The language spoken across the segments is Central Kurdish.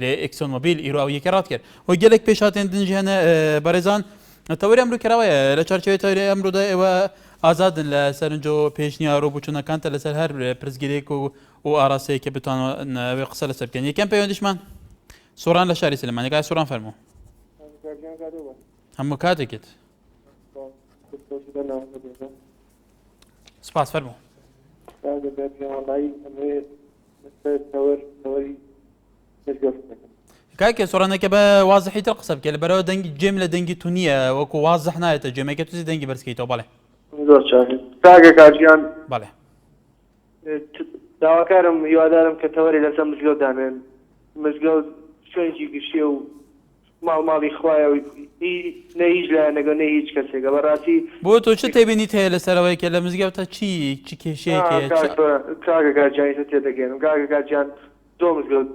لە ئکسۆن مۆبیل ئیرۆ ئەو یەکە ڕات کرد و گەلێک پێشاتێن دنجیان بەڕێزان تەوەری ئەمرو کراوەیە لە چارچەوەی تەوری ئەمرۆدا ئێوە ئازادن لە سەرنجۆ پێشنیا ڕۆ بچوونەکانتە لەسەر هەر پرسگیرێک و و ئاراستەیە کە بتوانەوە قسە لەسەر بکەن یەکەم پەیوەندیشمان سۆران لە شاری سلمانەکە سۆران فەرمو هەموو کاتێکت سپاس فەرموو کاکە سۆرانەکە بە وازحی تر قسە بکە لە بەرەوە دەنگی جێم لە دەنگی تو نییە وەکو وازح نایێتە جێمەکە توزی دەنگی بەرزکەیتەوە بڵێ زۆر کاگە کاژیان بڵێ داواکارم هیوادارم کە تەوەری لەسەر مزگەوت دانێن مزگەوت شوێنێکی گشتێ و ماڵ ماڵی خوایە و هی نە هیچ لایەنەک و نە هیچ کەسێکە بەڕاستی. بۆ تۆ چ تێبینیت هەیە لەسەر ئەوەی کە لە مزگەوتە چی چ کێشەیەک هەیە چ. ئا کاک کاکە گیان ئیتر تێدەگەیەنم کاکە کاک گیان زۆر مزگەوت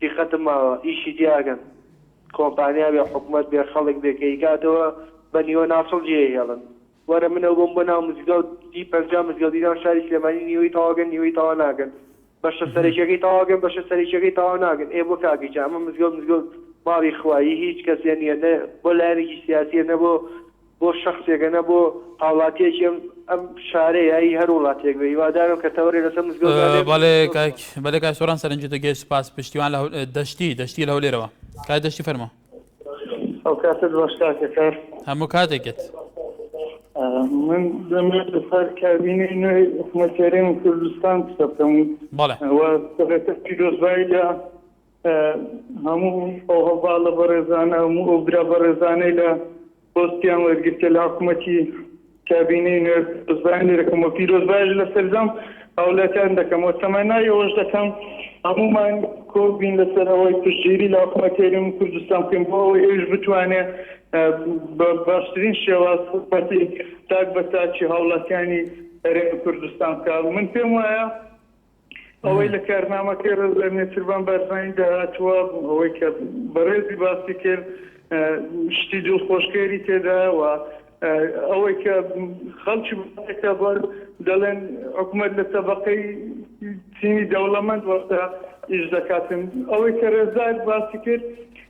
دیقەتم ماوە ئیشی تیا ئەکەن کۆمپانیا بێ حکومەت بێ خەڵک بێ کە ئیکاتەوە بە نیوە ناسڵ جێ ئەهێڵن وەرە من ئەوبم بۆ ناو مزگەو تی پەنجا مزگەو دیران شاری سلێمانی نیوەی تەواگەن نیوەی تەوا ناگەن بەشە سەرەکیەکەی تەواگەن بەشە سەرەکیەکەی تەوا ناگەن ئێ بۆ کاکی جا ئەمە مزگەوت مزگەوت ماڵی خوا ی هیچ کەسێ نیە نە بۆ لایەنێکی سیاسیە نە بۆ بۆ شەخسێکە نە بۆ هاوڵاتیەکی ئەم ئەم شارەیە ی هەر وڵاتێک بێ هیوادارم کە تەوەرێ لەسەر مزگەوت دا لێ بەڵێ بکەن کاک بەلێ کاک سۆران سەرنجت گەشت سوپاس پشتیوان لە هەول دەشتی دەشتی لە هەولێرەوە کاک دەشتی فەرموو. ئەو کاتت باش کاکە کار هەموو کاتێکت من دەمێت لەسەر کابینی نوێی حکومەتێرێن و کوردستان قسە بکەم سەرەتا پیرۆزبایی لە هەموو ئەو هەڵباڵە بەڕێزانە هەموو ئەو برا بەڕێزانەی لە پۆستیان وەرگرتە لە حکومەتی کابینەی نوێ بزدان لێرەکەم و پیرۆز باش لە سەرجەم هاولاتیان دەکەم و تەمەنای ئەوەش دەکەم هەمومان کۆبین لەسەر ئەوەی پشتگیری لە حکومەت هەرێمی کوردستان بکەین بۆ ئەوەی ئەوش بتوانێ بە باشترین شێواز حکومەتی تاک بە تاکی هاوڵاتیانی هەرێمی کوردستان بکە من پێم وایە ئەوەی لە کارنامەکەی ڕێزلێ نێچیرڤان بارزانیدا هاتووە، ئەوەی کە بەڕێزی باسی کرد شتی دڵخۆشکەری تێدایە و ئەوەی کە خەڵکی بەکە بۆن دەڵێن حکوومەت لە تەبقەی چینی دەوڵەمەند وەختە ئیش دەکاتن ئەوەی کە ڕێزدار باسی کرد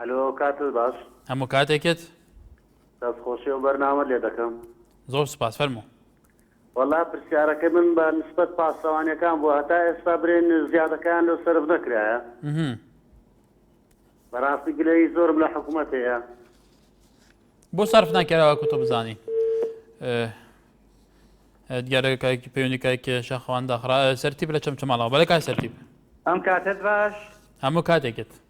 ئەلۆ کاتت باش. هەموو کاتێکت. دەست خۆشی ئەو بەرنامەت لێ دەکەم. زۆر سوپاس فەرموو. وەڵا پرسیارەکەی من بە نسبەت پاسەوانیەکان بوو هەتا ئێستا برێن زیادەکەیان لۆ سەرف نەکرایە؟ ئمم. بەڕاستی گلەیی زۆرم لە حکومەت هەیە. بۆ سەرف نەکرا وەکو تۆ بزانی دیارەکایکی پەیوەندی کایکە شەخوان داخرا سەرتیب لە چەمچەماڵەوە بەلە کای سەرتیب ئەم کاتت باش هەموو کاتێکت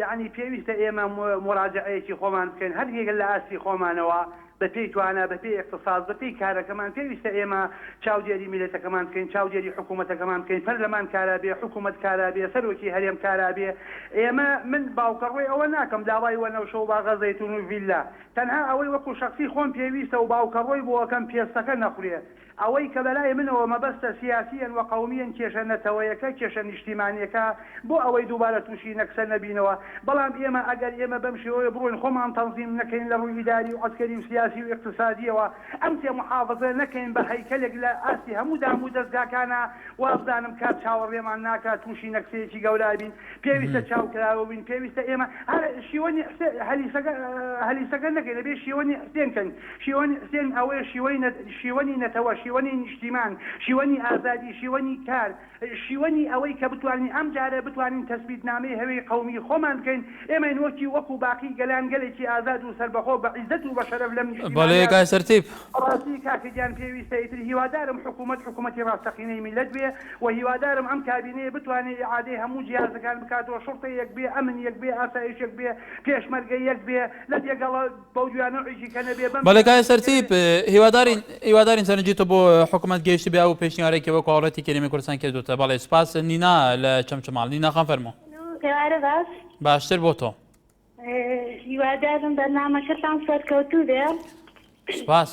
یەعنی پێویستە ئێمە موراجەعەیەکی خۆمان بکەین هەریەک لە ئاستی خۆمانەوە بە پێی توانا بە پێی ئیقتساد بە پێی کارەکەمان پێویستە ئێمە چاودێری میلەتەکەمان بکەین چاودێری حکوومەتەکەمان بکەین پەرلەمان کارا بێ حکوومەت کارا بێ سەرۆکی هەرێم کارا بێ ئێمە من باوکە ڕووی ئەوە ناکەم داوای وەنەوشە و باغە زەیتوون و ڤیلا تەنها ئەوەی وەکوو شەخسی خۆم پێویستە و باوکە ڕووی بۆ ئەکەم پێستەکە نەخورێ ئەوەی کە بەلای منەوە مەبەستە سیاسیەن و قەومیەن کێشە نەتەوەیەکە کێشە نیشتیمانیەکە بۆ ئەوەی دووبارە تووشی نەکسە نەبینەوە بەڵام ئێمە ئەگەر ئێمە بەم شێوەیە بڕۆین خۆمان تەنزیم نەکەین لە ڕووی ئیداری و عەسکەری و سیاسی و ئیقتسادیەوە ئەم تێ موحافزە نەکەین بە هەیکەلێک لە ئاستی هەموو دام و دەزگاکانا وابزانم کات چاوەڕێمان ناکات تووشی نەکسەیەکی گەورابین پێویستە چاوکراوەبین پێویستە ئێمە هەر شیوەنی حسێ هەلیسەکە هەلیسەکە نەکەین ئەبێ شیوەنی حسێن کەین شیوەنی حسێن ئەوەیە شیوەنی شیوەنی نەتەوە شیوەنی نیشتیمان شیوەنی ئازادی شیوەنی کار شیوەنی ئەوەی کە بتوانین ئەم جارە بتوانین تەسبیت نامەی هەوێی قەومی خۆمان بکەین ئێمەی نۆکی وەکو باقی گەلان گەلێکی ئازاد و سەربەخۆ بە عیزەت و بە شەرەف لەم بەڵێ نیشتیمانە کاک سەرتیپ. بەڕاستی کاکە گیان پێویستە ئیتر هیوادارم حکومەت حکومەتی ڕاستەقینەی میلەت بێ و هیوادارم ئەم کابینەیە بتوانێ ئیعادەی هەموو جیهازەکان بکاتەوە شوڕتە یەک بێ ئەمن یەک بێ ئاسایش یەک بێ پێشمەرگە یەک بێ لە دێگەڵە بەڵێ کاک سەرتیپ هیوادارین هیوادارین سەرنجی تۆ بۆ حکومەت گەیشت بێ و پێشنیارێکی وەک هەوڵەتی کەریمی کوردستان کردوتە بەڵێ سپاس نینا لە چەمچەماڵ نینا خان فەرموو باشتر بۆ تۆ هیوادارم بەرنامەکەتان سەرکەوتوو بێ سپاس.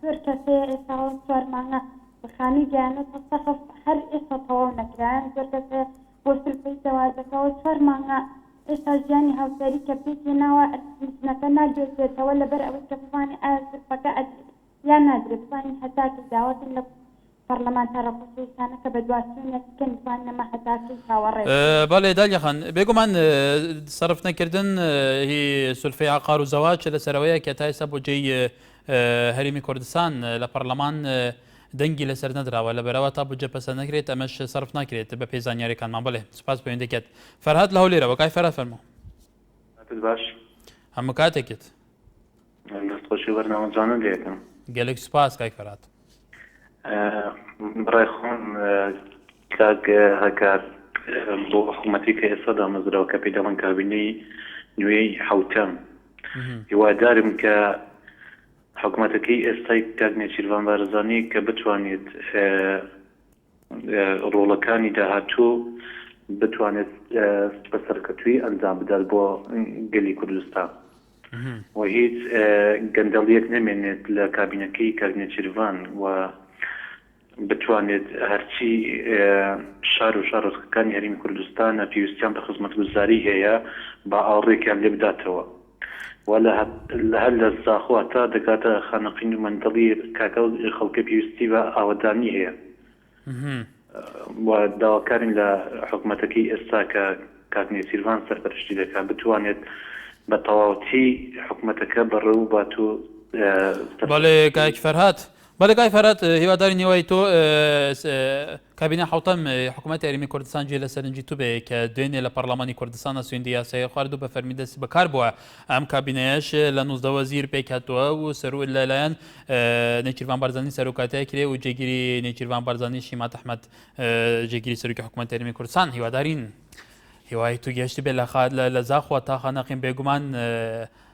زۆر کەسەیە ئێستا ئەو چوار مانگە خانووی گەیانە تا سەقف هەر ئێستا تەواو نەکرایان زۆر کەس هەیە بۆ سلفەی زەواجەکەەوە چوار مانگە ئێستا ژیانی هاوسەری کە پێکێ ناوە ژنەکە ناگوێزێتەوە لەبەر ئەوەی کە بزانێ ئایا سلفەکە ئەدرێت یان نادرێت بزانین هەتاکەی داوا کەین لە پەڕلەمانتارە خۆشەویستانە کە بە دواچوونە تکن توان نەما هەتا کەی چاوەڕێ بن. بەڵێ دالیا خان، بێگومان سەرف نەکردن هی سولفەی عەقار و زەواج چ لە سەرەوەیە کە تا ئێستا بودجەی هەرێمی کوردستان لە پەڕلەمان دەنگی لەسەر نەدراوە لە بەرەوە تا بودجە پەسەند نەکرێت ئەمەش سەرف ناکرێت بە پێی زانیاریەکانمان. بەڵێ سوپاس پەیوەندیەکەت. فەرهاد لە هەولێرەوە. کاک فەرهاد فەرموو. کاتت باش. هەموو کاتێکت. دەست خۆشی بەرنامە جوانە لەکەم گەلێک سوپاس کای فەرات بڕای خۆم کاک هەکار بۆ حکوومەتی کە ئێستا دامەزراوە کە پێی دەڵن کابینەی نوێی حوتەم هیوادارم کە حکوومەتەکەی ئێستای کاک نێچیرڤان بارزانانی کە بتوانێت ڕۆڵەکانی داهاتوو بتوانێت بە سەرکەتووی ئەنجام بدات بۆ گەلی کوردستان و هیچ گەندەڵیەک نەمێنێت لە کابینەکەی کابینە چیرڤان و بتوانێت هەرچی شار و شارۆچکەکانی هەرمی کوردستانە پێویستیان بە خزمەتگوزاری هەیە با ئاوڕێکیان لێ بداتەوە. وا لە هەر لە زاخۆ هەتا دەگاتە خانەقین و مەندەڵی کاکە ئەو خەڵکە پێویستی بە ئاوەدانی هەیە و داواکارین لە حکوومەتەکەی ئێستا کە کاک نێچیرڤان سەرپەرشتی دەکات بتوانێت بە تەواوەتی حکوومەتەکە بەڕێوە بات و بەڵێ کاک فەرهاد بەلێ کاک فەرات هیوادارین هیوای تۆ کابینە حوتەم حکوومەت یاریمی کوردستان جێ لە سەرنجی تو بێ کە دوێنێ لە پەرلەمانی کوردستانە سوێندی یاسای خوارد و بە فەرمی دەستی بەکار بووە ئەم کابینەیەش لە نوزدەوە زیر پێکاتوە و سەرو لەلایەن نێچیران بارزانانی سەرۆکاتای کرێ و جێگیری نێچیران بارزانانی شیما تەحمەد جێگیری سەرکی حکوومەت یاریمی کوردستان هیوادارین هیوای تو گەشتی بێ لە خات لە زاخوە تاخە نەقیم بێگومان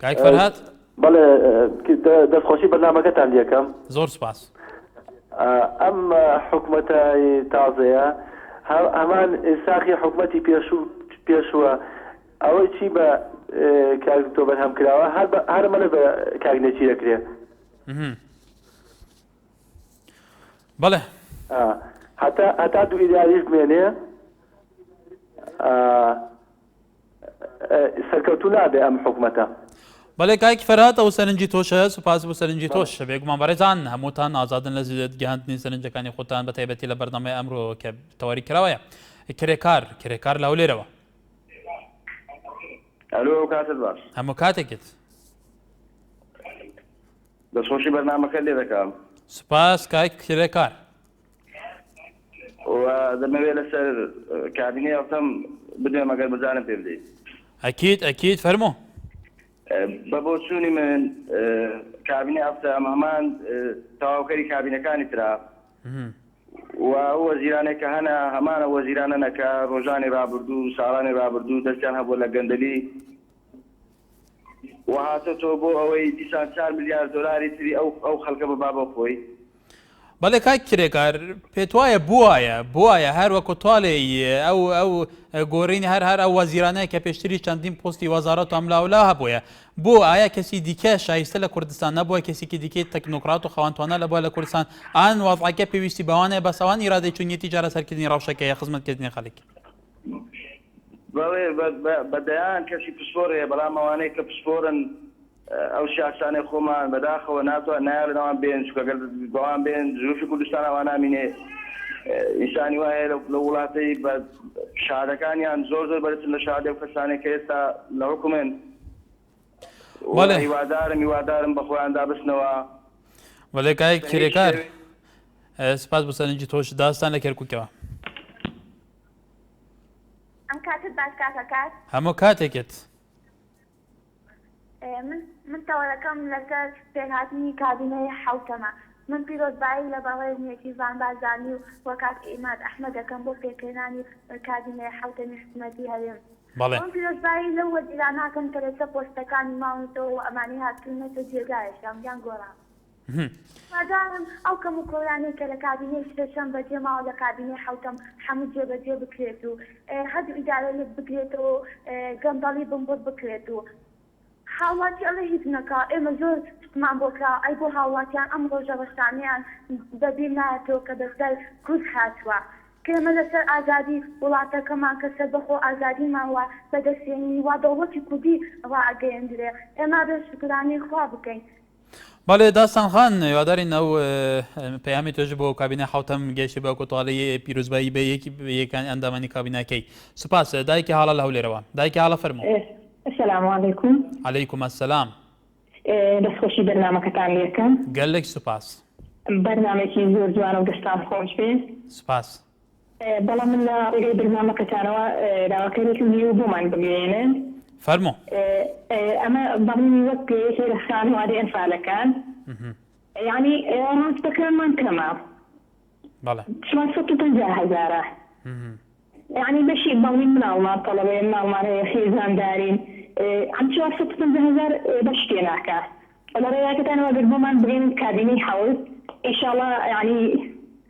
کاک فەرهاد بەڵێ دەستخۆشی بەرنمەکەتان لەکەم زۆر سپاس ئەم حکوومەتە تازەیە هەمان ساخی حکوومەتی پێشوو پێشووە ئەوەی چی بە کاک تۆ بەرهەم کراوە هەرمە لە بە کاک نێچی دەکرێ بەڵێ هەتا هەتا دوو ئیداریش بمێنێ سەرکەوتوو نابێ ئەم حکومەتە. بەڵێ کاک فەرهاد ئەو سەرنجی تۆش هەیە سوپاس بۆ سەرنجی تۆش بەڵێ. بێگومان بەڕێزان هەمووتان ئازادن لە گەیاندنی سەرنجەکانی خۆتان بە تایبەتی لە بەرنامەی ئەمرۆ کە تەواری کراوەیە کرێکار کرێکار لە هەولێرەوە. ئەلۆ ئەو کاتت باش. هەموو کاتێکت. دەستخۆشی بەرنامەکەت لێ دەکەم. سوپاس کاک کرێکار. وە دەمەوێ لەسەر کابینەی ئەڵتەم بدوێم ئەگەر بزانم پێ بدەیت. ئەکید ئەکید فەرموو. بە بۆچوونی من کابینەی ئەڵتەم هەمان تەواوکەری کابینەکانی ترە و ئەو وەزیرانەی کە هەنە هەمان ئەو وەزیرانەنە کە ڕۆژانی ڕابردوو و ساڵانی ڕابردوو دەستیان هەبووە لە گەندەلی و هاتۆتەوە بۆ ئەوەی دیسان چار ملیار دۆلاری تری ئەو ئەو خەلکە ببا بۆ خۆی. بەڵێ کاک کرێکار پێتوایە بوایە بوایە هەر وەکو تاڵێی ئەو ئەو گۆرینی هەر هەر ئەو وەزیرانەیە کە پێشتری چەندین پۆستی وەزارەت و ئەملاولا هەبووە بۆ ئایا کەسی دیکە شایستە لە کوردستان نەبووە کەسێکی دیکەی تەکنۆکرات و خەوانتوانە لە بووە لە کوردستان ئان وەزعەکە پێویستی بەوانەیە بەسەوان ئیرادەی چونیەتی چارەسەرکردنی ڕەوشەکەیە خزمەتکردنی خەڵک بەڵێ بە دەیان کەسی پسپۆر هەیە بەڵام ئەوانەی کە پسپۆرن ئەو شاسانەی خۆمان بەداخەوە ناتوان نایڵنەوان بێن چکەگەر بەوان بێن زروفی کوردستان ئەوان نامینێ ئینسانی وایە لە وڵاتی بە شادەکانیان زۆر زۆر بەرزن لە شادە و کەسانێک کە ئێستا لە حکومێن هیوادارم هیوادارم بە خۆیاندا بستنەوە وەلێ کای کرێکار سپاس بۆ سەرنجی تۆش داستان لە کەرکووکەوە ئەم کاتت باش کاکە کات. هەموو کاتێکت. من من تەوەرەکەم لەسەر پێکهاتنی کابینەی حەوتەمە. من پیرۆزبایی لە بەڕێزنی کیڤان بارزانی و و کاک عیماد ئەحمەد دەکەم بۆ پێکهێنانی کابینەی حەوتەمی حکومەتی هەرێم. بەڵێ. پیرۆزبایی لەو وەزیرانە ئەکەم کە لەسەر پۆستەکانی ماونەتەوە و ئەمانەی هاتوونەتە جێگایەکیان یان گۆڕان. هیوادارم ئەو کەم و کۆرانەی کە لە کابینەی شەشەم بەجێ ماوە لە کابینەی حەوتەم حەموو جێبەجێ بکرێت و هەردوو ئیدارە یەک بگرێتەوە و گەندەڵی بنبڕ بکرێت و هاوڵاتی ئەڵێ هیچ نەکا ئێمە زۆر شتمان بۆ کرا ئەی بۆ هاوڵاتیان ئەم ڕۆژە ڕەشانەیان بە بیر نایەتەوە کە بەسەر کورد هاتووە کە ئێمە لە سەر ئازادی وڵاتەکەمان کە سەربەخۆ ئازادیمان وا بەدەست هێنی وا دەوڵەتی کوردی ڕائەگەیەندرێ ئێمە ئەبێ شوکرانەی خوا بکەین بەڵێ داستان خان هیوادارین ئەو پەیامی تۆش بۆ کابینە حوتەم گەشتی بە کۆتاڵی پیرۆزبایی بە یەکی یەکانی ئەندامانی کابینەکەی سوپاس دایکی حاڵە لە هەولێرەوە دایکی حاڵە فەرمو سلام علیکم علیکم السلام دەستخۆشی بەرنمەکەتان لەکەم گەلێک سوپاس بەرنمێکی زۆر جوانە و دەستان خۆش بێ سوپاس بەڵام من لە ڕێگای بەرنامەکەتانەوە داواکاریەکم هەیە بۆمان بگەیەنن. فەرموو. ئەمە بەڕوونی وەک یەکێ لە خانەوادەی ئەنفالەکان یانی ڕاستەکانمان کەمە بەڵێ چوار سەد و پەنجا هەزارە یانی بەشی بەڵین مناڵمان تەڵەبەیە مناڵمان هەیە خێزاندارین ئەم چوار سەد و پەنجا هەزار بەش تێ ناکا لە ڕێگاکەتانەوە گەر بۆمان بگەن کابینەی حەوت ئیشاڵا یانی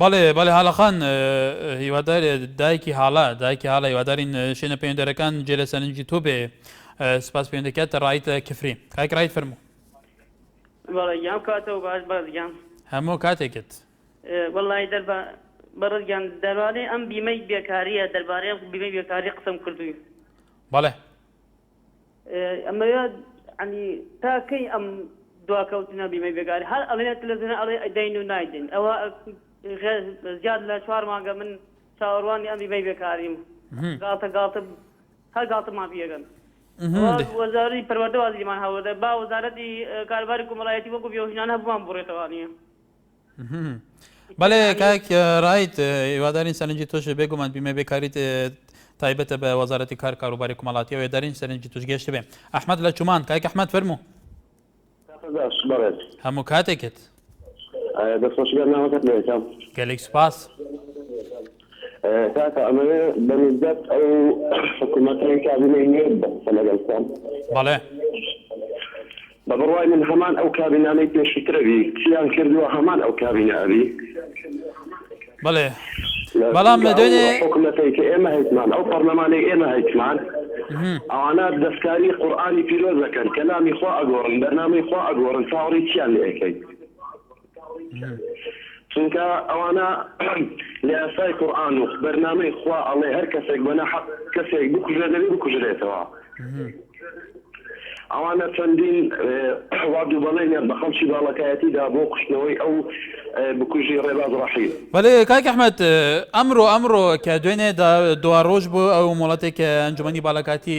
بەڵێ بەڵێ هالە خان هیوادار دایکی هالە دایکی هالە هیوادارین شوێنە پەیوەندەرەکان جێ لە سەرنجی تۆ بێ سپاس پەیوەندەکەت ڕایت کفری کاک ڕایت فەرموو بەڵێگیان کاتەوە باش بەزگیان هەموو کاتێکت وڵی دەربا بەڕزگیان دەروانێ ئەم بیمەی بێکاریە دەربارەی بیمەی بێکاری قسم کردووی بەڵێ ئەمەوێ عنی تا کەی ئەم دواکەوتنە بیمەی بێگاری هەر ئەڵێ تلەزیۆن ئەڵێ ئەدەین و نایدەین ئەوە زیاد لە چوار مانگە من چاوەڕوانی ئەم بیمەی بێکاریم گاڵتە گاڵتە هەر گاڵتەمان پێگەن وەزاری پەروەردە وازیمان هەوڵدە با وەزارەتی کارباری کۆمەڵایەتی وەکو بێوژنان هەبووان بڕێتەوانە بەێ کاک ڕیت هیوادارین سەرنجی تۆش بێگومان بیمە بێکاریت تایبەتە بە وەزارەتی کار کاروباری کومەڵاتی ئەوێ دارین سەرنجی توش گەشت بێ ئەحمد لە چومان کاک ئەحمد فەرمو هەموو کاتێکت گەلێک سوپاس کاکە ئەمە بەنزدەت ئەو حکوومەتی کابینەی نوێ بەسە لەگەڵسان بەڵێ بە بڕوای من هەمان ئەو کابینانەی پێشوترە بی چیان کردوە هەمان ئەو کابینە ئەبی. بەڵێ بەڵام لە دوێنێ. حکومەتەی کە ئێمە هەیتمان ئەو پەڕلەمانەی ئێمە هەیتمان ئەوانە دەسکاری قورئانی پیرۆزەکەن کەلامی خوا ئەگۆڕن بەرنامەی خوا ئەگۆڕن چاوەڕێی چیان لێ ئەکەیت. چونکە ئەوانە لە یاسای قورئان و بەرنامەی خوا ئەڵێ هەر کەسێک بە نەحەق کەسێک بکوژێ دەبێ بکوژرێتەوە ئەوانە چەندین واد و بەڵێنیان بە خەڵکی باڵەکایەتی دا بۆ کوشتنەوەی ئەو بکوژی ڕێباز ڕەحیم بەڵێ کاک ئەحمەد ئەمرۆ ئەمرۆ کە دوێنێ دوا ڕۆژ بۆ ئەو مۆڵەتێک کە ئەنجومەنی باڵەکاتی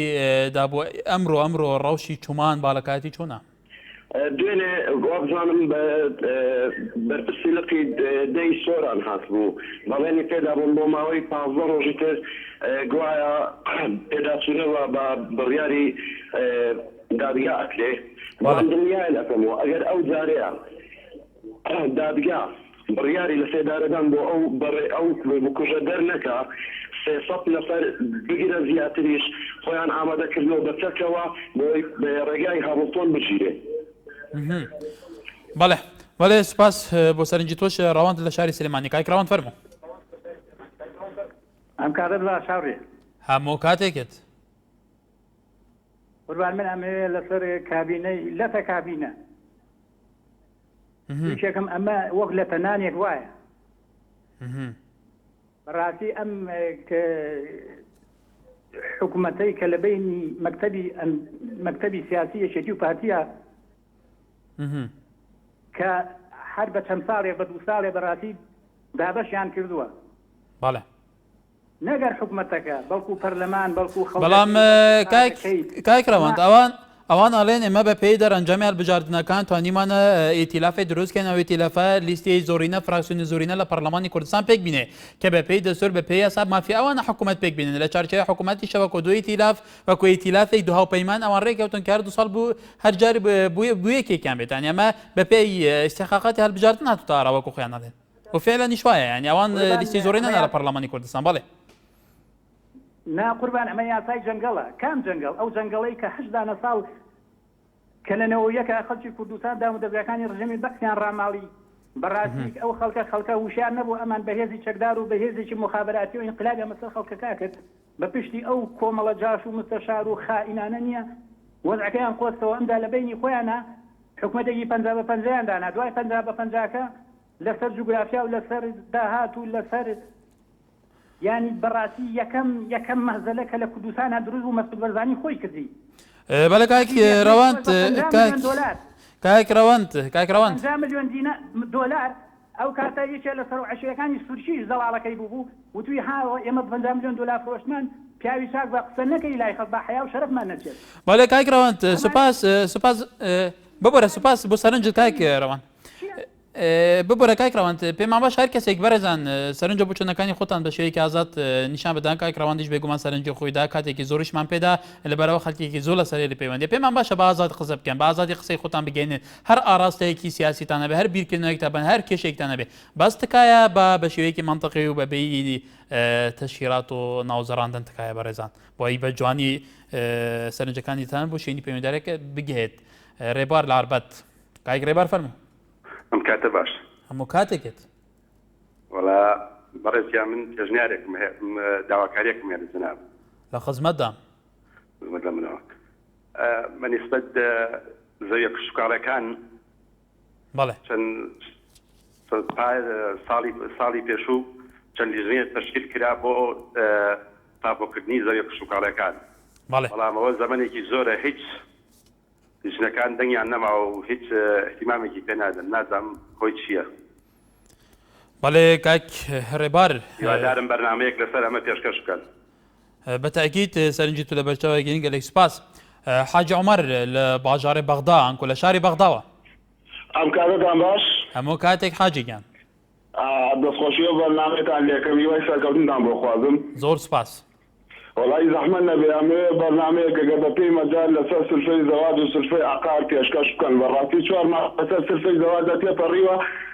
دا بۆ ئەمرۆ ئەمرۆ ڕەوشی چومان باڵەکاتی چۆنە دوێنێ وابزانم بە بەرپرسی لقی دە ی سۆران هاتبوو، بەڵێنی پێدابووم بۆ ماوەی پازدە ڕۆژی تر، گوایە پێداچوونە بە بە بڕیاری دادگا ئەکرێ، بەڵام دڵنیایان ئەکەمەوە ئەگەر ئەو جارەیان. دادگا بڕیاری لە سێدارەدان بۆ ئەو بەڕێ ئەو بکوژە دەرنەکا، سێ سەد نەفەر بگرە زیاتریش خۆیان ئامادە کردووە بە چەکەوە بۆی بە ڕێگای هامڵتۆن بگیرێ. بەڵێ بەڵێ سوپاس بۆ سەرنجی تۆش ڕەوەند لە شاری سلێمانی کاک ڕەوەند فەرموو ئەم کاتت باش هاوڕێ هەموو کاتێکت قوربان من ئەمەوێ لەسەر کابینەی لەتە کابینە یەکێکم ئەمە وەک لە تەنانێک وایە بەڕاستی ئەم حکوومەتەی کە لە بینی مەکتتەبی مەکتتەبی سیاسی یەکێتی و پارتیە کە هەر بە چەند ساڵێ بە دوو ساڵێ بەڕاستی دابەشیان کردووە بەڵێ نەک هەر حکومەتەکە بەڵکو پەرلەمان بەڵکو خەڵکەکەی بەڵام کاک کاک ڕەوەند ئەوان ئەوان ئەڵێن ئێمە بە پێی دەرەنجامی هەڵبژاردنەکان توانیمانە ئیتیلافی دروستکەین ئەو ئیتیلافە لیستی زۆرینە فراکسیۆنی زۆرینە لە پەرلەمانی کوردستان پێک بینێ کە بە پێی دەستور بە پێی یاسا مافی ئەوانە حکوومەت پێک بینن لە چارچەوەی حکوومەتی شەوەکۆ دوو ئیتیلاف وەکو ئیتیلافێک دو هاوپەیمان ئەوان ڕێککەوتن کار دو ساڵ بوو هەر جار بووە بووە یەکێکیان بێتان ئەمە بە پێی استحقاقاتی هەڵبژاردن هاتوتە ئاراوەکو خۆیان ئەڵێن و فعلەنیش وایە یانی ئەوان لیستی زۆری نەنا لە پەڕلەمانی کوردستان بەڵێ. نا قوربان ئەمە یاسای جەنگەڵە کام جەنگەڵ ئەو جەنگەڵەی کە هەشت دانە ساڵ کە لە نەوەویەکە خەڵکی کوردستان دامودەزگاکانی ڕژێمی بەعسیان ڕاماڵی بەڕاستی ئەو خەڵکە خەڵکە وشیار نەبوو ئەمان بەهێزی چەکدار و بەهێزێکی موخابراتی و ئینقلابیان بەسەر خەڵکەکە کرد بە پشتی ئەو کۆمەڵە جاش و مستەشار و خائینانە نیە وەزعەکەیان قۆزکەوە ئەمجا لە بەینی خۆیانا حکومەتێکی پەنجا بە پەنجەیان دانا دوای پەنجا بە پەنجاکە لەسەر جوگرافیا و لەسەر داهات و لەسەر یانی بەڕاستی یەکەم یەکەم مەهزەلە کە لە کوردستانە دروست بوو مەسعود بەرزانی خۆی کردی بەلە کاک رەوەند کاک رەوەند کاک رەوەند 50 ملیۆن دینار دۆلار ئەو کاتە یەکێ لە سەرۆ عەشیرەکانی سورکیش زەڵاڵەکەی بووبوو وتووی هاوڕێ ئێمە بە پەنجا ملیۆن دۆلار فرۆشتمان پیاوی چاک بە قسە نەکەی لای خەڵک با حەیاو شەرەفمان نەچێت. بەڵێ کاک ڕەوەند سوپاس سوپاس ببورە سوپاس بۆ سەرنجت کاک ڕەوەند ببورە کاک ڕەوەند پێمان باش هەر کەسێک بەرێزان سەرنجە بۆ چەندەکانی خۆتان بە شێوەیەکی ئازاد نیشان بدەن کاک ڕەوەندیش بێگومان سەرنجی خۆیدا کاتێکی زۆریشمان پێدا لەبەرەوە خەلکێکی زۆر لە سەرێ لە پەیوەندی پێمان باشە بە ئازاد قسە بکەن بە ئازادی قسەی خۆتان بگەینێت هەر ئاراستەیەکی سیاسیتان هەبێ، هەر بیرکردنەوەیەکتان هەبێ، هەر کێشەیەکتان هەبێ، بەس تکایە با بە شێوەیەکی مەنتقی و بە بێی تەشهیرات و ناوزڕاندن تکایە بەڕێزان، بۆ ئەی بە جوانی سەرنجەکانیتان بۆ شوێنی پەیوەندارێک بگهێت. رێبوار لە ئاربەت. کاک رێبار فەرموو. ئەم کاتە باش. هەموو کاتێکێت. وەڵا بەڕێز گیان من پێشنیارێکم هەیە، داواکاریەکم هەیە لە جەنابت. لە خزمەتدام. خزمەت لە منەوە. بە نیسبەت زەویە کشتوکاڵەکان ساڵی پێشوو چەند لیژنەیە تەشکیل کرا بۆ تاپۆکردنی زەویە کشتوکاڵەکان بەڵام ئەوە زەمەێکی زۆرە هیچ لیژنەکان دەنگیان نەما و هیچ احتیمامێکی پێ نادەن نازام خۆی چییە بەڵێ کاک هەڕێبار هیوادارم بەرنمەیەک لەسەر ئەمە پێشکەش بکەن بە تاکیت سەرنجی تو لە بەرچاوە گەین گەلێک سوپاس حاجی عمر لە باژارێ بەغدا ئەنکۆ لە شاری بەغداوە ئەم کارەتان باش هەموو کاتێک حاجی گیان دەستخۆشیەوە بەرنامەتان لەکەم هیوای سەرکەوتنتان بۆ خوازم زۆر سوپاس. وەڵایی زەحمەت نەبێ ئەمەوێ بەرنامەیەک گەر بە پێی مەجال لەسەر سلفەی زەواج و سلفەی عەقار پێشکەش بکەن بەڕاستی چوار مانگ بەسەر سلفەی زەواجدا تێپەڕیوە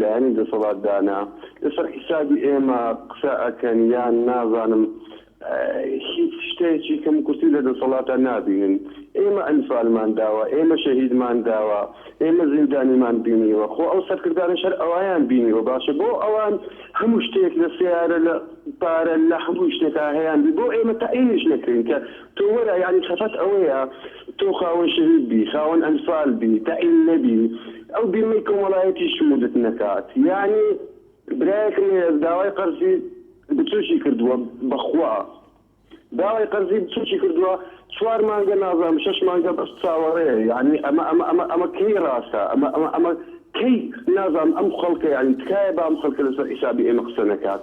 لایەنی دەسەڵات دانە لەسەر حیسابی ئێمە قسە ئەکەن یان نازانم هیچ شتەیەکی کەم و کورتی لە دەسەڵاتا نابینن ئێمە ئەنفالمان داوە ئێمە شەهیدمان داوە ئێمە زیندانیمان بینیوە خۆ ئەو سەرکردانە شەر ئەویان بینیوە باشە بۆ ئەوان هەموو شتێک لە سیارە لە پارە لە هەموو شتێکا هەیان بۆ ئێمە تەعینیش نەکرین کە تۆ وەرە یانی خەفەت ئەوەیە تۆ خاوەن شەهید بی خاوەن ئەنفال بی تەعین نەبی ئەو بیمەی کۆمەڵایەتی شموردت نەکات یانی برایەکم هەیە داوای قەرزی بچوکی کردوە بەخوا داوای قەرزی بچوکی کردوە چوار مانگە نازانم شەش مانگە بەس چاوەڕێ یانی ئەمە ئەمە ئەمە ئەمە کەی ڕاستە ئەمە ئەمە ئەمە کەی نازانم ئەم خەڵکە یانی تکایە بام خەڵکە لەسەر حیسابی ئێمە قسە نەکات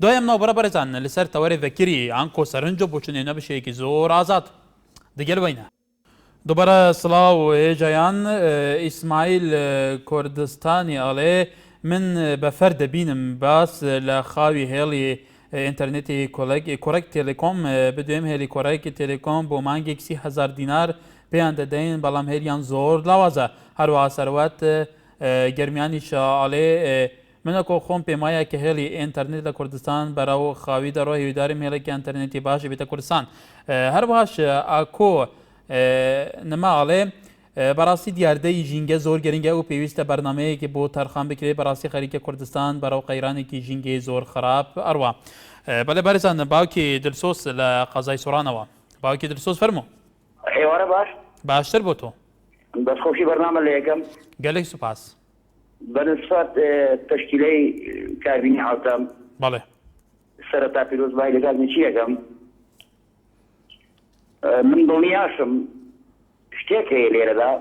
دوای ئەم ناوبڕە بەرزانە لە سەر تەوەرێ ڤەکری ئانکۆ سەرنج و بۆچونێ نە بشێکی زۆر ئازاد دگەل وەی نە. دوبارە سڵاو هێژایان ئیسماعیل کوردستانی ئەڵێ من بە فەر دەبینم باس لە خاوی هێڵی ئینتەرنێتی کۆلەک کۆرەک تێلێکۆم بدوێم هێلی کۆرەک تێلێکۆم بۆ مانگێک سی هەزار دینار پێیان دەدەین بەڵام هێلیان زۆر لاوازە هەروەها سەروەت گەرمیانیش ئەڵێ منەکۆ خۆم پێم وایە کە هێڵی ئێنتەرنێت لە کوردستان بەرەو خاوی دەڕۆ هیودارم هێڵێکی ئەنتەرنێتی باش ببێتە کوردستان هەروەهاش ئاکۆ نما ئەڵێ بەڕاستی دیاردەی ژینگە زۆر گرنگە و پێویستە بەرنمەیەکی بۆ تەرخان بکرێت بەڕاستی خەریکە کوردستان بەرەو قەیرانێکی ژینگەی زۆر خراپ ئەڕوا بەلێ بەرزان باوکی دلسۆس لە قەزای سۆرانەوە باوکی دلسۆس فەرمو ئێوارە باش باشتر بۆ تۆ بەس خۆشی بەرنامە لە یەکەم گەلێک سوپاس بەنسبەت تەشکیلەی کابینەی عەوتەم. بەڵێ. سەرەتا پیرۆزبایی لە گازێکی یەکەم. من دڵنیاشم شتێک هەیە لێرەدا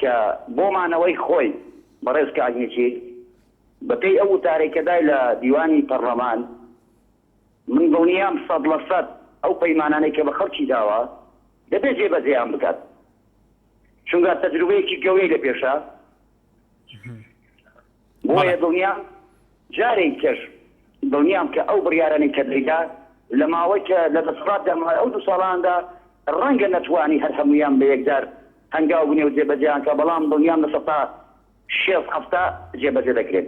کە بۆ مانەوەی خۆی بەڕێز کاک نێچیر بە پێی ئەو وتارەی کە دای لە دیوانی پەڕڵەمان من دڵنیام سەد لە سەد ئەو پەیمانانەی کە بە خەڵکی داوە دەبێ جێبەجێیان بکات. چونگا تەجروبەیەکی گەورەی لە پێشە بۆیە دڵنیام جارێک کەش دڵنیام کە ئەو بڕیارانەی کە دەیدا لە ماوەی کە لە دەسەڵات دەما ئەو دوو ساڵاندا ڕەنگە نەتوانی هەر هەمویان بە یەکجار هەنگاو بنێ و جێبەجێیان کە بەڵام دڵنیام لە سەتا شێست هەفتا جێبەجێ دەکرێن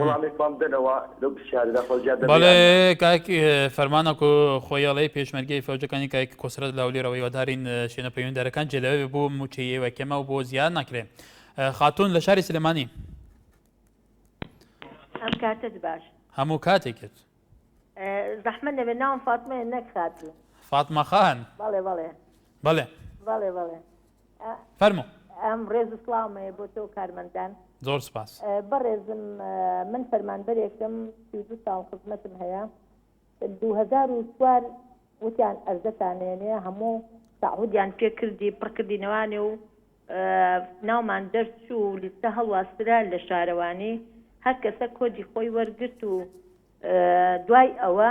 وەڵامێک بام دەنەوە لەو پرسیارەدا خۆ زیاد دەبێ بەڵێ کاک فەرمان ئەکۆ خۆی ئەڵێ پێشمەرگەی فەوجەکانی کاک کۆسرەت لە هەولێرەوە هیوادارین شوێنە پەیوەندیدارەکان جێ لەوێ بێ بۆ مووچەی ئێوە کەمە و بۆ زیاد ناکرێ خاتوون لە شاری سلێمانی ئەم کاتت باش هەموو کاتێکت زەحمە نەبێ ناوم فاتمەیە نەک خاتوو فاتمە خان بەڵێ بەڵێ بەڵێ بەڵێ بەڵێ فەرمو. ڕێز و سڵاوم هەیە بۆ تۆ و کارمەندان. زۆر سوپاس. بەڕێزم من فەرمانبەرێکم سی و دوو ساڵ خزمەتم هەیە دوو هەزار و چوار وتیان ئەرزەتان نێنێ هەموو تعهودیان پێ کردی پڕ کردینەوانێ و ناومان دەرچوو و لیستە هەڵواسرا لە شارەوانی هەر کەسە کۆدی خۆی وەرگرت و دوای ئەوە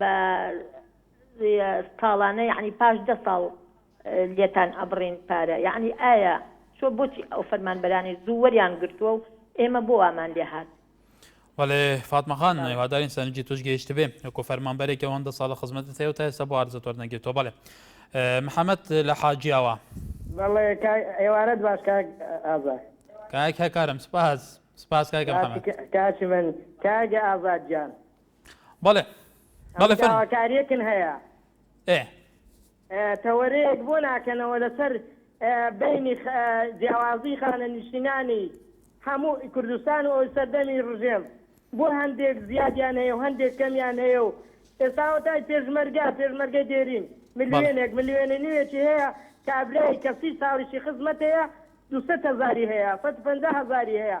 بە ساڵانە یعنی پاش دە ساڵ لێتان ئەبڕین پارە یعنی ئایا چۆ بۆچی ئەو فەرمانبەرانی زوو وەریان گرتووە و ئێمە بۆ وامان لێ هات؟ وەلێ فاتمە خان هیوادارین سەرنجی توش گەیشتبێ وەکو فەرمانبەرێکی ئەوەندە ساڵە خزمەتت هەیە و تا ئێستا بۆ عەرزت وەرنەگرتووە بەڵێ محەمەد لە حاجیاوا بەڵێ کاک ئێوارەت باش کاک ئازاد کاک هەکارم سپاس سپاس کاکە محەمەد کاک من کاک ئازاد گیان بەڵێ بەڵێ فەرموو. داواکاریەکن هەیە. ئێ. تەوەرەیەک بۆ ناکەنەوە لەسەر بەینی جیاوازی خانەنیشتینانی هەموو کوردستان و ئەو سەردەمی ڕژێم بۆ هەندێک زیادیان هەیە و هەندێک کەمیان هەیە و ئێستا وەتای پێشمەرگە پێشمەرگەی دێرین ملیۆنێک ملیۆنە نیوێکی هەیە کابرای کە سی ساڵیشی خزمەتەیە دوو سەد هەزاری هەیە سەد و پەنجا هەزاری هەیە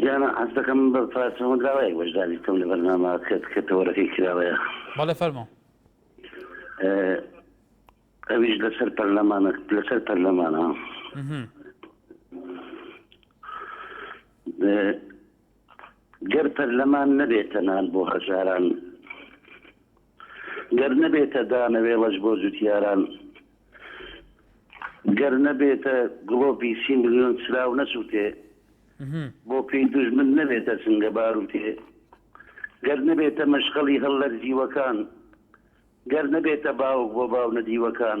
گیانە ئەستەکەم بە پاسەوە داوای بەشداری بکەم لە بەرنامە کە کە تەوەرەکەی کراوەیە بەڵێ فەرمو ئەویش لەسەر پەرلەمانە لەسەر پەرلەمانە گەر پەرلەمان نەبێتە نان بۆ هەژاران گەر نەبێتە دانەوێڵەش بۆ جوتیاران گەر نەبێتە گڵۆپی سی ملیۆن سراو نەسووتێ بۆ پێی دوژمن نەبێتە سنگە باروتێ گەر نەبێتە مەشخەڵی هەڵلەرزیوەکان گەر نەبێتە باوک بۆ باو نەدیوەکان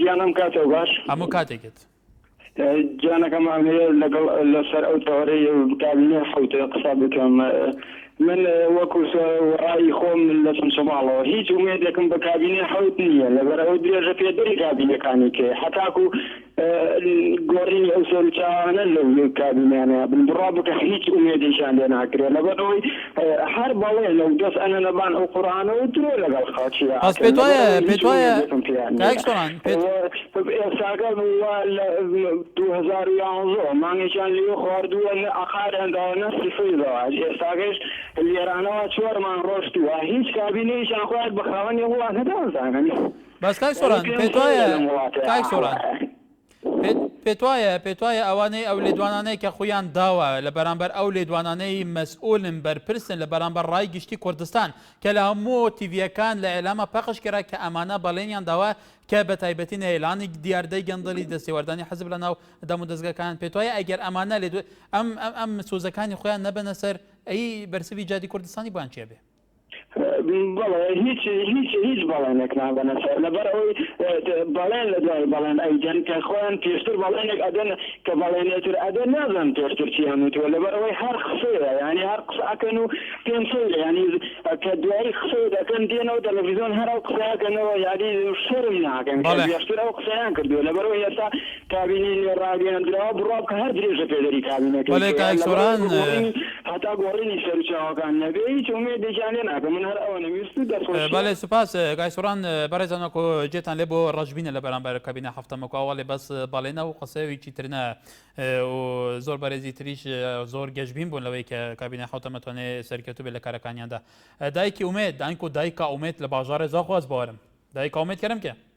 گیان ئەم کاتەو باش هەموو کاتێکت. گیانەکەم ئەمەوێ لەگەڵ لەسەر ئەو تەوەرەی دابینێ حەوتێ قسە بکەم من وەکو وەڕایی خۆم لە چەمچەماڵەوە هیچ ئومێدێکم بە کابینێ حەوت نییە لەبەرەوە درێژە پێدەری کابینەکانی کێ حتاکو گۆڕینی ئەو سەرچاوانە لە کابینیانە بن بڕا بکە هیچ ئومێدێکیان لێ ناکرێت لەبەرەوەی هەر بەڵێ لەو دەس ئەنە لەبان ئەو قورئانە و درۆ لەگەڵ خاچی ئاکەن پس پێتوایە پێتوایە کاک سۆران ئێساگە بووە لە دوو هەزار و یانزۆ مانگێکیان لێ خواردووە نە ئەقاریان داوە نە سفری داوە ئێساگەش لێرانەوە چوارمان ڕۆشتووە هیچ کابینەیشان خۆیان بە خاوەنی وڵاتە دازانن بەس کاک سۆران پێتوایە کاک سۆران پێت پێتوایە پێتوایە ئەوانەی ئەو لێدوانانەی کە خوویان داوە لە بەرامبەر ئەو لێدوانانەی مەسئولن بەرپرسن لە بەرامبەر ڕای گشتی کوردستان کە لە هەموو تیڤیەکان لە ئیلاما پەخش کرا کە ئەمانە بەڵێنیان داوە کە بە تایبەتی نەهێلانی دیاردەی گەندەڵی دەستێوەردانی حزب لە ناو دەموو دەزگەکان پێتوایە ئەگەر ئەمانە لێدو ئەم ئەم ئەم سۆزەکانی خویان نەبەنە سەر ئەی بەرسڤی جادی کوردستانی بۆیان چیە بێ؟ بەڵێ هیچ هیچ هیچ بەڵێنێک نابەنە سەر لەبەر ئەوەی بەڵێن لە دوای بەڵێن ئەیدەن کە خۆیان پێشتر بەڵێنێک ئەدەن کە بەڵێنێتر ئەدە نازان پێشتر چیان وتووە لەبەر ئەوەی هەر قسەیە ینی هەر قسەکەن و پێم سەیرە ینی کە دوایی قسە دەکەن دێنەوە تەلەڤیزیۆن هەر ئەو قسەکەنەوە یادی شەرم ناکەن پێشتر ئەو قسەیان کردووە لەبەرەوە ئێستا کابینەی نوێ ڕاگەیەندراوە بڕوا بکە هەر درێژە پێدەری کابینەکەی بەڵێ کەیە کاک لەبەر سۆران ئەوەی گۆڕینی هەتا گۆڕینی سەروچاوەکان نەبێ هیچ ئومێدێکیان لێ ناکەم من هەر ئەوەنەم ویست و دەستخۆشیە. بەڵێ سوپاس کاک سۆران بەڕێزان وەکو جێتان لێ بوو ڕەشبینە لە بەرامبەر کابینە هەفتەمە کوا وەڵێ بەس بەڵێنە و قسەویی تر نا و زۆر بەرێزی تریش زۆر گەشبین بوون لەوەی کە کابینە حەوتەمە توانێ سەرکەوتوو بێ لە کارەکانیاندا دایکی ئومێد دانکۆ دایکا ئومێد لە باژاڕێ زاخواز بوارم دایکا ئومێد کەرم کێ؟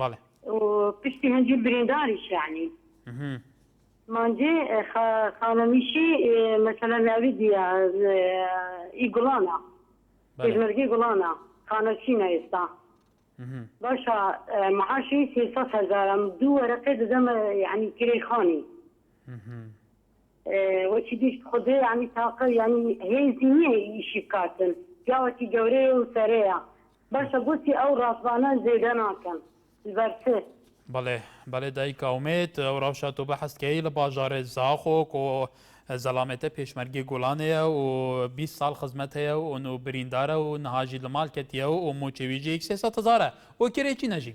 بەڵێ پشتی هەنجیر برینداری شانی مانجێ خانەنیشی مەسەلا ناوی دیە ئی گوڵانە پێشمەرگی گوڵانە خانەچینە ئێستا باشە معاشی سێسە هەزارم دوو وەرەقێ دەدەمە یعنی کرێ خانی وەچی دیش خودێ ینی تاقە ینی هێزی نییە ئیشی بکاتن پیاوەتی گەورەیە و سەرەیە باشە بۆچی ئەو ڕاپانە جێگە ناکەن لبەر چ؟ بەڵێ بەڵێ دایک ئومێد ئەو ڕەوشە تۆ بەحس کەی لە باژارێ زاخۆ کۆ زەڵامێتە پێشمەرگەی گۆڵانێە و بیست ساڵ خزمەت هەیە و ئۆن و بریندارە و نهاژی لە ماڵ کەتیە و ئۆ مۆچێویژی یەک سێ سەد هەزارە ئۆ کێرێکی نەژی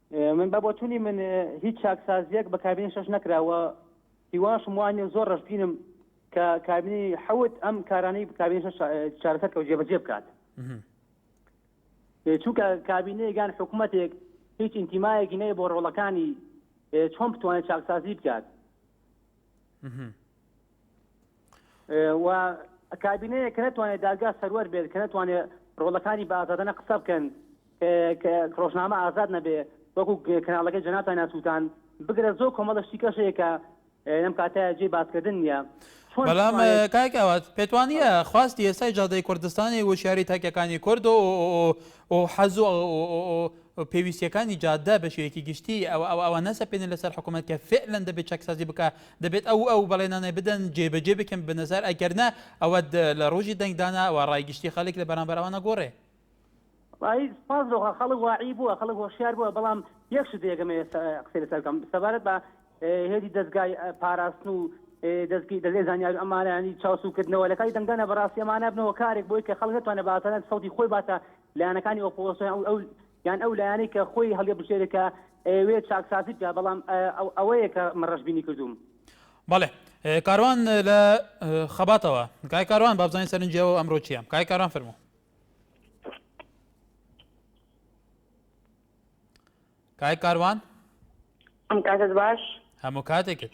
من بە بۆچونی من هیچ چاکسازیەک بە کابینی شەش نەکرا و هیواشم وانە زۆر ڕژبینم کە کابینی حەوت ئەم کارانەی کابینی شەش چارەسەر کەوت جێبەجێ بکات چونکە کابینەیەگان حکوومەتێک هیچ ئینتیمایەکی نەیە بۆ ڕۆڵەکانی چۆن بتوانێت چاکسازی بکات و کابینەیە کە نتوانێت دادگا سەروەر بێت کە نتوانێت ڕۆڵەکانی بازادەنە قسە بکەن ڕۆژنامە ئازاد نەبێ وەکو کەناڵەکە جەناتا ناسووتان بگرە زۆر کۆمەڵشتی کەشەیەکە لەم کاتە جێ باسکردن نیە بەڵام کاکەوات پێتوانە خواستی ئێستای جادەی کوردستانی وشاری تاکەکانی کورد و حەز پێویستیەکانی جادە بەشێکی گشتی ئەوە ئەوە نەسە پێێن لەسەر حکوومەت کە فعلەن دەبێت چەکسازی بکە دەبێت ئەو ئەو بەڵێنانە بدەن جێبەجێ بکەن بە نەزار ئەگەرنا ئەوە لە ڕۆژی دەنگدانا و ڕای گشتی خەڵک لە بەرامبەر ئەوانە گۆڕێ سپاس دۆخە خەڵک واعی بووە خەڵک هۆشیار بووە بەڵام یەک شت دێگەمێ قسەی لەسەر بکەم سەبارەت بە هێدی دەستگای پاراستن و دەستگی دەزێ زانیار ئەمانانی چاوسوکردنەوە لە کاری دەنگدانە بەڕاستی ئەمانە بنەوە کارێک بۆی کە خەڵک نتوانە باسەرەن سەوتی خۆی باتە لایەنەکانی ئۆپۆسیۆن ئەو یان ئەو لایەنەی کە خۆی هەڵیبژێرێ کە ئەیەوێ چاکسازی بکە بەڵام ئەوەیە کە من ڕەشبینی کردووم. بەڵێ کاروان لە خەباتەوە کاک کاروان با بزانین سەرنجی ئەو ئەمڕۆ چییە کاک کاروان فەرموو کاک کاروان ئەم کاتت باش هەموو کاتێکت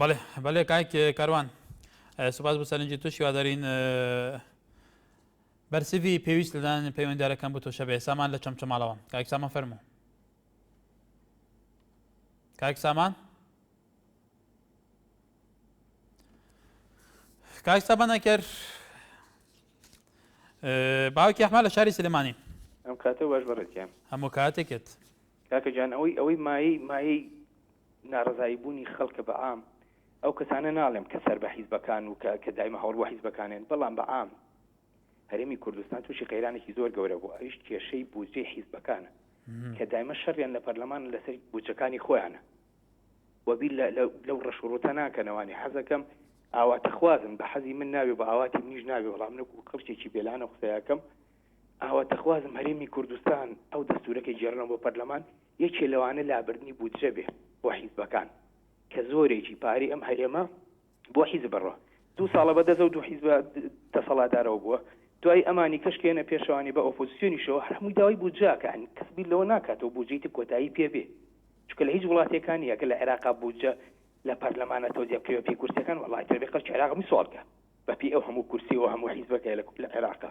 بەڵێ بەڵێ کاک کاروان سوپاس بۆ سەرنجی توش هیوادارین بەرسیڤی پێویست لەدان پەیوەنددارەکەم بۆ تۆشە بێ سامان لە چەمچەماڵەوە کاک سامان فەرموو کاک سامان کاک سامان نەکرد باوکی ئەحمە لە شاری سلێمانی ئەم کاتە باش بەڕێکیان هەموو کاتێکێت کاکە جان ئەوەی ئەوەی مایەی مایەی نارەزایی بوونی خەڵکە بە عام ئەو کەسانە ناڵێم کە سەر بە حیزبەکان و کە کە دایمە هەوڵ بۆ حیزبەکانێن بەڵام بە عام هەرێمی کوردستان تووشی قەیرانێکی زۆر گەورە بوو ئەویش کێشەی بودجەی حیزبەکانە کە دایمە شەڕیان لە پەرلەمان لەسەر بودجەکانی خۆیانە وەبی لەو ڕەش و ڕوتە ناکەنەوانی حەزەکەم ئاواتەخوازن بە حەزی من ناوێ بە ئاواتی منیش ناوێ بەڵام نەکو کەڵکێکی بێلانە قسەیەکەم ئاواتەخوازم هەرێمی کوردستان ئەو دەستورە کە گێڕنەوە بۆ پەرلەمان یەکێ لەوانە لابردنی بودجە بێ بۆ حیزبەکان کە زۆرێکی پارەی ئەم هەرێمە بۆ حیزب بڕە دوو ساڵە بە دەزەو دوو حیزبە دەسەڵاتدارەوە بووە دوای ئەمانی کەش کە یەنە پێشەوانی بە ئۆپۆزسیۆنیشەوە هەر هەمووی داوای بودجاکە ئەنی کەس بیر لەوە ناکاتەوە بودجەی تر کۆتایی پێ بێ چونکە لە هیچ وڵاتێکان نییە کە لە عێراقا بودجە لە پەرلەمانە تۆزیە بکرێ بە پێی کورسیەکان وەڵای تر بێ خەڵکی عێراق میسواڵکە بە پێی ئەو هەموو کورسی و هەموو حیزبەکە لە عێراقا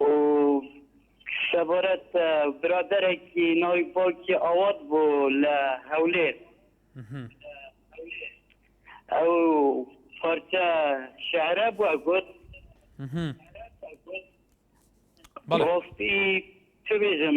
و سەبارەت بە برادەرێکی ناوی باوکی ئاوات بوو لە هەولێر ئەو پارچە شعرە بووە گوت بەڵێ. ڕاستی چ بێژم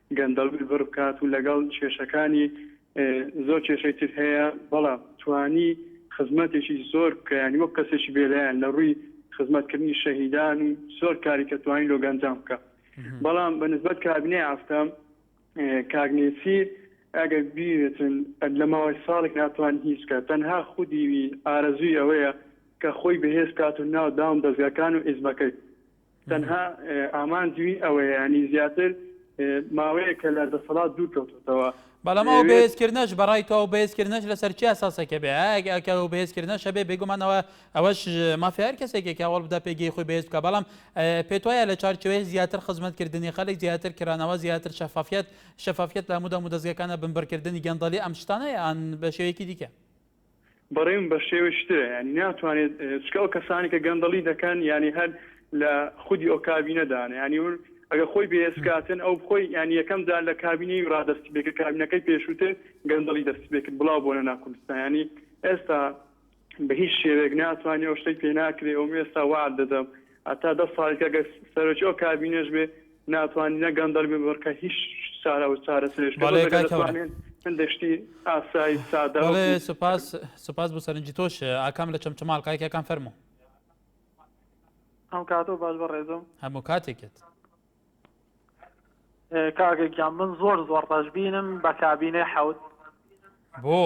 گەندەڵی بڕ بکات و لەگەڵ کێشەکانی زۆر کێشەی تر هەیە بەڵام توانی خزمەتێکی زۆر بکە یانی وەک کەسێکی بێلایەن لە ڕووی خزمەتکردنی شەهیدان و زۆر کاری کە توانی لۆ گەنجان بکە بەڵام بە نسبەت کابنێ ئافتە کاک نێچیر ئەگەر بیێتن لە ماوەی ساڵێک ناتوان هیچ بکە تەنها خودیوی ئارەزوی ئەوەیە کە خۆی بەهێز کات و ناو داوم دەستگاکان و ئیزمەکەی تەنها ئامانجوی ئەوەیە ینی زیاتر ماوەیە کە لە دەسەڵات دوور کەوتوتەوە. بەڵام ئەو بەهێزکردنەش بەڕای تۆ ئەو بەهێزکردنەش لەسەر چی ئەساسەکە بێ ئەگەر ئەو بەهێزکردنەش هەبێ بێگومان ئەوە ئەوەش مافی هەر کەسێکێک کە هەوڵ بدا پێگەی خۆی بەهێز بکا بەڵام پێت وایە لە چوارچێوەی زیاتر خزمەتکردنی خەلک زیاتر کرانەوە زیاتر شەفافیەت شەفافیەت لە هەموو دەمودەزگەکانە بنبڕکردنی گەندەڵی ئەم شتانە یان بە شێوەیەکی دیکە بەڕێم بەشێوەی شترە یانی ناتوانێت چکە ئەو کەسانی کە گەندەڵی دەکەن یانی هەر لە خودی ئەو کابینە دانە ینی ون ئەگە خۆی بێسکاتن ئەو بخۆی یانی یەکەم جار لە کابینی ڕادستی بێکە کابینەکەی پێشووتر گەندەڵی دەست بێکرد بڵاو بۆنە ناکوردستانی ئێستا بە هیچ شێوێک ناتوانانی ئەو شتەی پێناکرێ ئەو ئێستا وعد دەدەم هەتا دە ساڵی تر گەر سەرۆکی ئەو کابینەش بێ ناتوانین نە گەندەڵ بێ بڕکە هیچ چارە و چارەسەرێش بەڵێ کاک هەورە هەندێک شتی ئاسای سادە بەڵێ سوپاس سوپاس بۆ سەرنجی تۆش ئاکام لە چەمچەماڵ کاکەکان فەرموو هەم کاتەوە باش بە ڕێزم هەموو کاتێکێت کاگەگیان من زۆر زۆر ڕژبینم بە کابینێ حەوت بۆ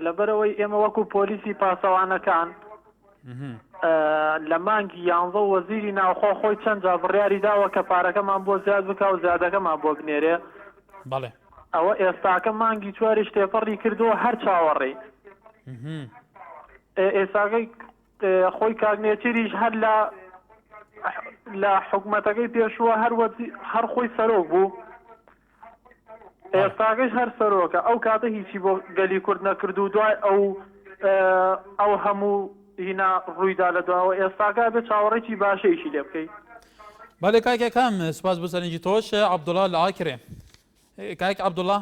لەبەرەوەی ئێمە وەکو پۆلیسی پاسەوانەکان لە مانگی یانزە وەزیری ناوخۆ خۆی چەند جا بڕیاری داوە کە پارەکەمان بۆ زیاد بکە و زیادەکەمان بۆ بنێرێ بەڵێ ئەوە ئێستاکە مانگی چواری شتێپەڕی کردو هەر چاوەڕێین ئێساگەی خۆی کاک نێچیریش هەر لە لە حکومەتەکەی پێشووە هەر وەزی هەر خۆی سەرۆک بوو ئێستاگەش هەر سەرۆکە ئەو کاتە هیچی بۆ گەلی کورد نەکرد و دوای ئەو ئەو هەموو هینا ڕوویدا لە دواوە ئێستاگا بێ چاوەڕێکی باشەیشی لێ بکەیت بەێ کاکەکەم سوپاس بۆ سەرنجی تۆش عبدوڵا لە ئاکرێ کاک عبدوڵا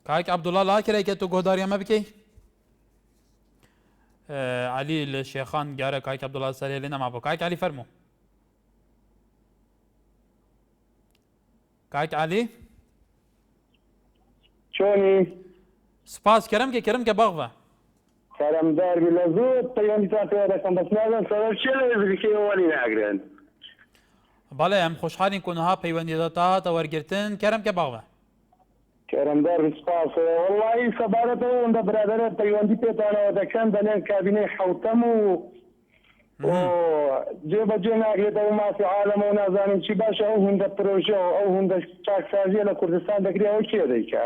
کاک عبدالله لا کرای کە تۆ گۆداری ئەمە بکەی علی لە شێخان گارە کاک عبدالله سەرێ لێ نەما بۆ کاک علی فەرموو کاک علی چۆنی سپاس کەرم کە کەرم کە باغ بە سەرمدار بی لە زۆر پەیوەندیتان پێوە دەکەم بەس نازانم سەبەب چیە لە ئێزدیکەی ئەو وەری ناگرن. بەڵێ ئەم خۆشحالین کونها پەیوەندیتە تا هاتە وەرگرتن کەرم کە باڵە. کەرمدار بی سپاس وەڵایی سەبارەت ئەو ئەوەندە برادەرە پەیوەندی پێتانەوە دەکەن دەلێن کابینەی حەوتەم و و جێ بە جێ ناگرێتە و مافی عالەمە و نازانین چی باشە ئەو هندە پرۆژە و ئەو هندە چاکسازیە لە کوردستان دەکرێ ئەوە کێ دەیکا؟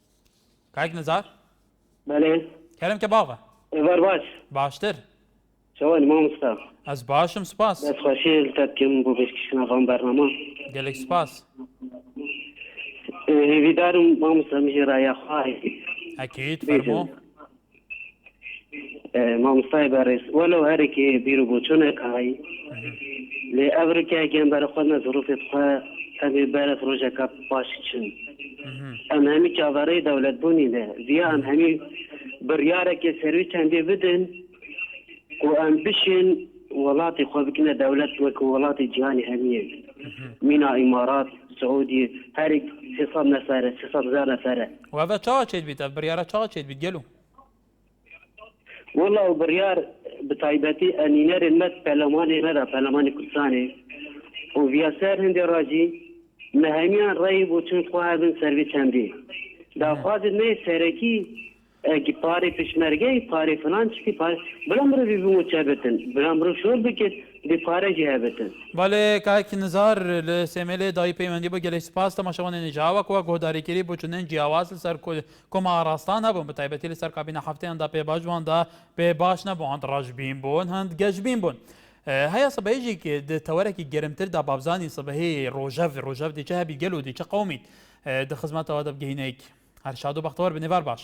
کاک نزار بەلێ کەرم کە باغە ئێوار باش باشتر چۆن مامۆستا ئەز باشم سوپاس دەست خۆشی لەتەت کەم بۆ پێشکەشکردنە بەم بەرنامە گەلێک سوپاس هیویدارم مامۆستا مژێرا یاخوای ئەکید فەرموو مامۆستای بەڕێز وە لەو هەرێکی بیر و بۆچۆنەکەی لێ ئەفریکا گیان بەرە خۆ نەزڕوفێت خۆ ئەبێ بەرە ڕۆژەکە پاش چن ئەم هەمی چاوەڕێی دەولەت بوونی لێ زیا ئەم هەمی بڕیارێکی سەروی چەندێ بدن و ئەم بشێن وڵاتی خۆ بکنە دەولەت وەکو وڵاتی جیهانی هەمیە مینا ئیمارات سعودی هەرێک سێسەد نەفرە سێسەد هزار نەفرە وابە چاوە چێت بیت ئە بڕیارە چاوە چێت بیت گەلو وڵا و بڕیار بتایبەتی ئەنینەرێن مەت پەلەمانی غەدا پەلەمانی کوردستانی و ڤیاسەر هەندێ ڕاجی مەهمیان ڕێی بۆ چون خواردن سەروی چەندی داخوازت نەی سەرەکی ئەگی پارێ پشمەرگەی پارێ فلان چکی پار بلا مرۆڤی بمو چابێتن بلا مرۆڤ شۆر بکرد بێ پارە جێیان بردن. بەڵێ کاک نزار لە سێمێلێ دایی پەیوەندی بۆ گەلەی سپاس تەماشەوانێنی جاوە کوا گۆهداریکری بوچونێن جیاواز لە سەر کول کۆمە ئاڕاستان هەبوون بە تایبەتی لە سەر کابینە حەفتەیان دا پێ باش بووان دا پێ باش نەبوو هەند ڕەشبین بوون هەند گەشبین بوون هەیە سبەیژی ک دە تەوەرەکی گەرمتر دا بابزانی سبەی ڕۆژەڤ ڕۆژەڤ دی چە هەبی گەل و دی چە قەومیت دە خزمەتەوە دە بگەینەیک هەر شاد و بەختەوەر بن ئێوار باش.